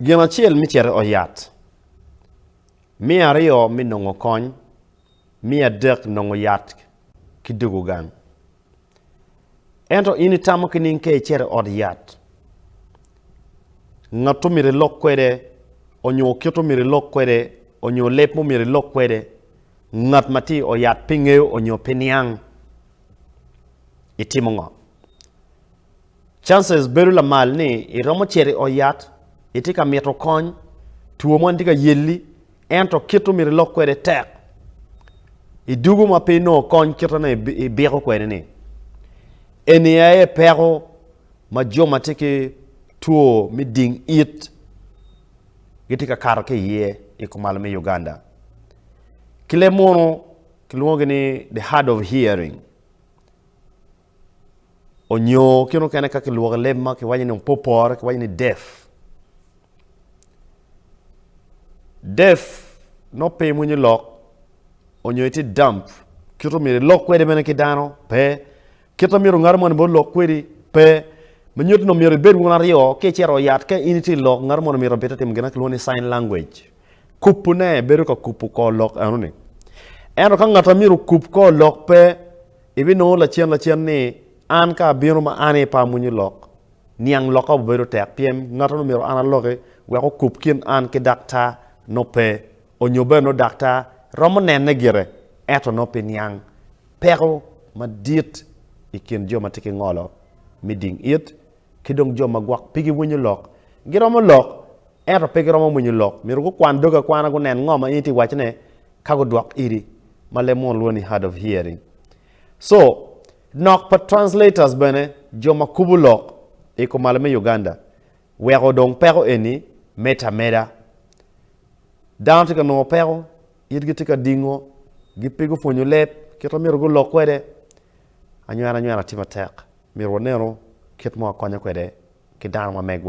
Gin acel me cito i ot yat, me aryo me nongo kony, me adek nongo yat ki dwogo gang. Ento in itamo ki ning ka icito i ot yat, ngat omyero ilok kwede onyo kit omyero ilok kwede onyo leb mo myero ilok kwede ngat ma tye i ot yat pe ngeyo onyo pe niang itimo ngo? Chances bedo lamal ni i romo cito i ot yat, i tye ka mito kony, two mo ni tye ka yelli, ento kit omito i lok kwede tek. I dugo ma pe inongo kony kit ane i biko kwede ni. Eni aye peko ma jo ma tye ki two me ding it gi tye ka kato ki iye i kumalo me Uganda. Ki leb mono kilwongo ni the hard of hearing. onyo kit mukene ka kilwoko i leb ma kiwaco ni opopore kiwaco ni deaf. Deaf nongo pe winyo lok onyo itye dump kit ma myero ilok kwede bene ki dano pe, kit ma myero ngat moni bene olok kwedi pe, ma nyuto ni myero ibed wun aryo ka icito i ot ka in itye ka lok ngat moni myero obite timo gin ma kilwongo ni sign language, kupune bedo ka kupu kor lok enoni. Ento ka ngat ma myero okup kor lok pe Ibinongo lacen lacen ni, An ka abino ma an aye pe amwonyo lok, niang lokka obibedo tek pien ngattono myero an aloki wek okub kin an ki daktar nongo pe, onyo bene nongo daktar romo nene gire ento nongo pe niang. Peko madit i kin jo ma tye ki ngolo me ding it ki dong jo ma gwok pe giwinyo lok. Giromo lok ento pe giromo mwonyo lok. Myero gukwan dogi akwana gunen ngo ma in itye ka wacone ka gudwok iri ma leb munu lwongo ni hard of hearing. So, nok pa translators bene, jo ma kubo lok i kumalo me Uganda, weko dong peko eni med ameda. Dano tye ka nongo peko, itgi tye ka dingo, gi pe gupwonyo leb kit ma myero gulok kwede. Anywena anywena tye matek, myero wanenu kit ma wakonyo kwede ki dano ma megwa.